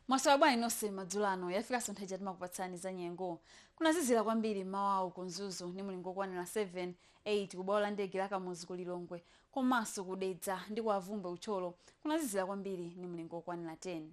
mwasowa bwanji nonse madzulo ano yafikanso nthawi ija timakupatsani za nyengo kunazizira kwambiri mmawawu ku mzuzu ni mulingo okwanira 7 8 kubwalo la ndege la kamuzu ku lilongwe komanso kudedza ndi ku bvumbwe ku thyolo kunazizira kwambiri ni mulingo okwanira 10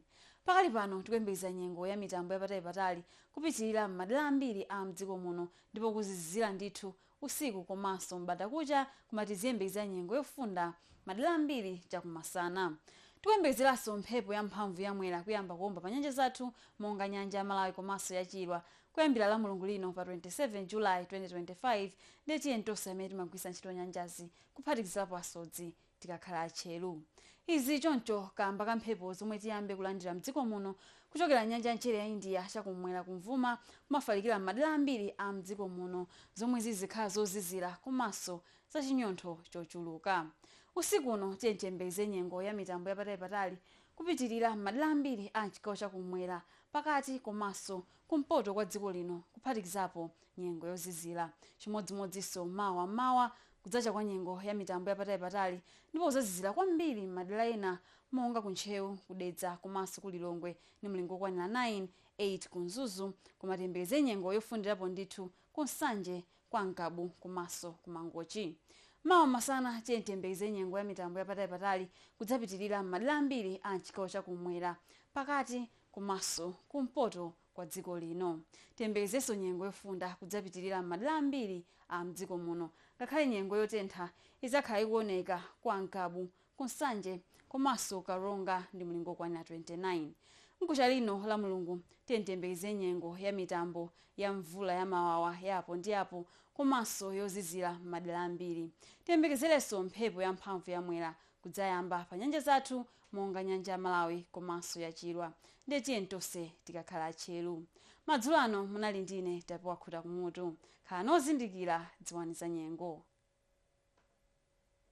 pakali pano tikuyembekeza nyengo ya mitambo yapatali patali kupitilira m'madera ambiri a mdziko muno ndipo kuzizira ndithu usiku komaso m'bandakucha koma tiziyembekezera nyengo yofunda madera ambiri chakumasana. Tikuyembekezeraso mphepo ya mphamvu ya Mwera kuyamba kuomba pa nyanja zathu monga nyanja ya Malawi komaso ya Chilwa kuyambira la Mulungu lino pa 27 July 2025 ndiye tiyeni tonse amene timagwiritsa ntchito nyanjazi kuphatikizapo asodzi tikakhale atcheru. Izi choncho kaamba ka mphepo zomwe tiyambe kulandira mdziko muno kuchokera nyanja ya mchere ya India chakum'mwera kumvuma kumafalikira m'madera ambiri a mdziko muno zomwe zizikhala zozizira komanso za chinyontho chochuluka. Usiku uno tiyeni tiyembekeze nyengo ya mitambo yapatalipatali kupitilira m'madera ambiri a m'chigawo chakum'mwera, pakati komanso kumpoto kwa dziko lino kuphatikizapo nyengo yozizira. Chimodzimodzinso mawa m'mawa, kudzacha kwa nyengo ya mitambo yapatalipatali ndipo kudzazizira kwambiri m'madera ena monga ku Ntcheu, ku Dedza komanso ku Lilongwe ndi mlingo wokwanira 9, 8 ku Mzuzu koma tiyembekeze nyengo yofundirapo ndithu ku Nsanje, kwa Ngabu komanso ku Mangochi. Mawa masana, tiyeni tiyembekeze nyengo ya mitambo yapatalipatali kudzapitirira m'madera ambiri a m'chigawo cha kummwera, pakati komanso kumpoto kwa dziko lino. Tiyembekezenso nyengo yofunda kudzapitilira m'madera ambiri a m'dziko muno ngakhale nyengo yotentha idzakhala ikuoneka kwa Ngabu, ku Nsanje komanso Karonga ndi mlingo wokwanira 29. Mkuja lino la Mulungu tiyeni tiyembekeze nyengo ya mitambo ya mvula ya mawawa ya apo ndi apo komanso yozizira m'madera ambiri. Tiyembekezerenso mphepo yamphamvu ya Mwera kudzaomba pa nyanja zathu monga nyanja ya Malawi komanso ya Chilwa ndiye tiyeni tonse tikakhale atcheru. Madzulo ano munali ndi ine Tapewa Khuta Kumutu. Khalani ozindikira, dziwani za nyengo.